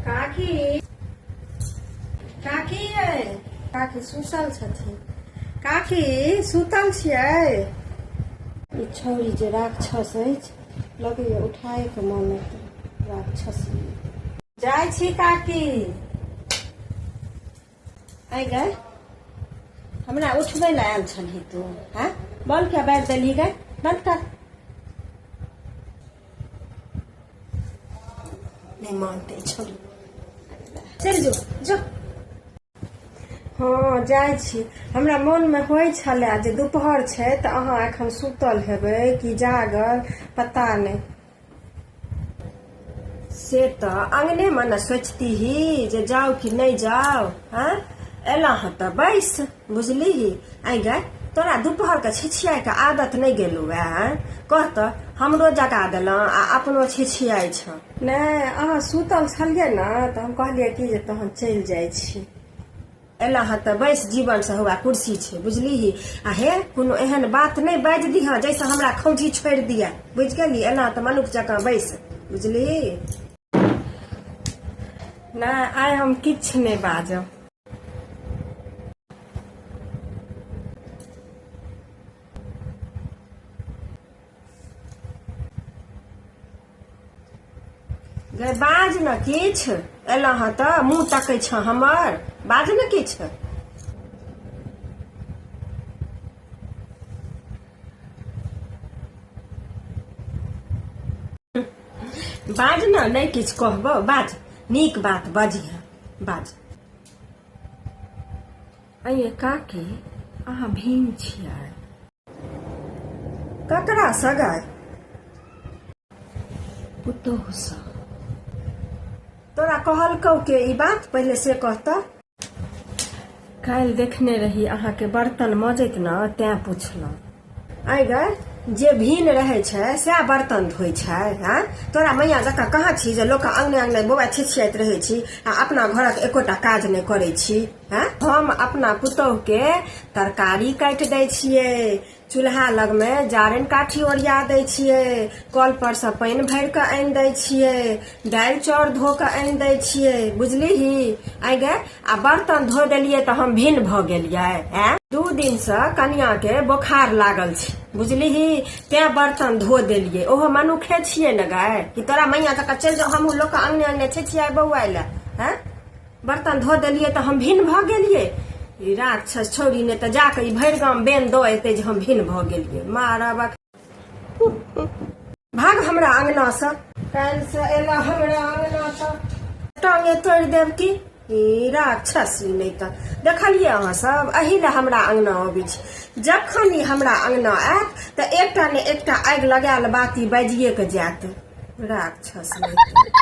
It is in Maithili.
काकी काकी यै काकी सुतल छथिन काकी सुतल छियै ई छौरी जे राक्षस अछि लगैए उठाएके मन राक्षस जाइ छी काकी आइ गए हमरा उठबै लए आयल छलही तू हँ बॉल क्या बाजि देलही गए बंद कर नहि मानते छोड़ चलि जो जो हँ जाइ छी हमरा मोनमे होइ छलए जे दुपहर छै तऽ अहाँ एखन सुतल हेबै कि जागल पता नहि से तऽ अंगने मे ने सोचती ही जे जाओ कि नहीं जाओ हाँ एला हँ तऽ बैस बुझली ही आई गए तोरा दुपहर के छिछिया के आदत नहीं गेलू है कह तऽ हमरो जगा दिल आ अपनो छिछिया छ नहीं अहाँ सुतल छलिए ना तऽ हम कहलिए कि जे तहन चलि जाइ छी एला हँ तऽ बैस जीवनसँ हौआ कुर्सी छै बुझलिही आ हे कोनो एहन बात नहि बाजि दिहँ जाहिसँ हमरा खौझी छोड़ि दिअ बुझि गेली एना तऽ मनुख जकाँ बैस बुझलिही नहि आइ हम किछु नहि बाजब गै बाज ने किछु एलहुँ हँ तऽ मुँह तकै छ हमर बाज ने किछु बाज ने नहि किछु कहबो बाज नीक बात बजिह बाज अये काकी अहाँ भीम छियै ककरा सगाइ पुतोहसँ तोरा कहलकौ के ई बात पहिले से कहत काल्हि देखने रही अहाँके बर्तन मजैत न तैं पुछलहुँ आइ गए जे भीन रहै छै सएह बर्तन धोइ छै हँ तोरा मैया जकाँ कहाँ छी जे लोक अङ्गने अङ्गने बौआ छिछियाइत रहै छी आ अपना घरक एकोटा काज नहि करै छी हैं हम अपना पुतोह के तरकारी काट दे छिए चूल्हा लग में जारन काठी ओरिया दे छिए कल पर से पानि भर के आन दे छिए दाल चाउर धो के आन दे छिए बुझली ही आई गे आ बर्तन धो दिलिए तो हम भिन्न भ गलिए हैं दू दिन से कनिया के बोखार लागल छी बुझली ही ते बर्तन धो दिलिए ओहो मनुखे छिए न गाय कि तोरा मैया तक चल जाओ हम लोग के अंगने अंगने छिए बउआ ले हैं बर्तन धो देलियै तऽ हम भिन्न भऽ गेलियै ई राक्षस छौरी ने तऽ जाके ई भरि गाम बेन दऽ एतै जे हम भिन्न भऽ गेलियै मारब भाग हमरा अंगना से काल से एला हमरा अंगना से टांगे तोड़ देब की ई राक्षस ई नहि तऽ देखलियै अहाँ सब एहि लए हमरा अंगना अबै छी जखन ई हमरा अंगना आयत तऽ एकटा ने एकटा आगि लगायल बाती बाजिए के जायत राक्षस नहि